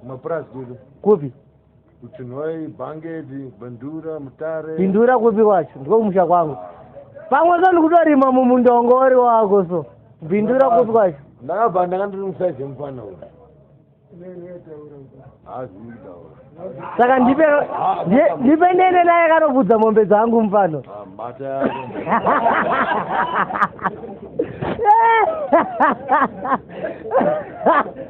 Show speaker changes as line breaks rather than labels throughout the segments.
kumapurazi
kupi kupi
kuchinhoi
bhangeti bindura mutare bindura kupi kwacho
ndiko kumusha kwangu pamwe so ndikutorima mumundongori wako so bindura kupi kwacho ndakabva ndanga ndiri
musaizi yemufana uyu saka
ndipe ndipe ndene naye kanobvudza mombe dzangu mufano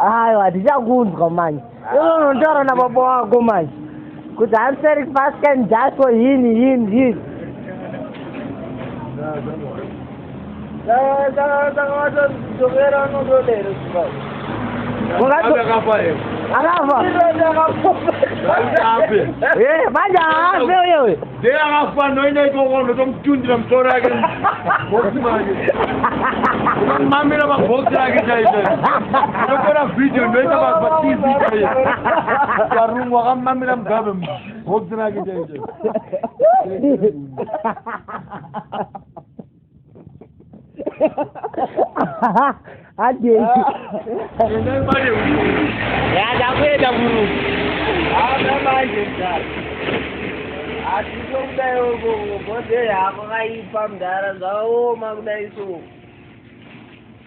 hayo hatichakunzwa manje ivo unotaura nababa wako manje kuti answering fast can just for him him him akafa manje haafe uyewe Dei akafa
anoenda ikoko unotomutundira musoro yake bhoksi make unomamira mabhoksi ake chaizvo unotora vhidhiyo ndoita patv chaiyo karungu akamamira mugabe bhoksi rake chaizvo
adei
yadakuenda
muru aa
manje mdara asi sokudai
ogogodei havo vaipa mdara zvavaoma kudai soo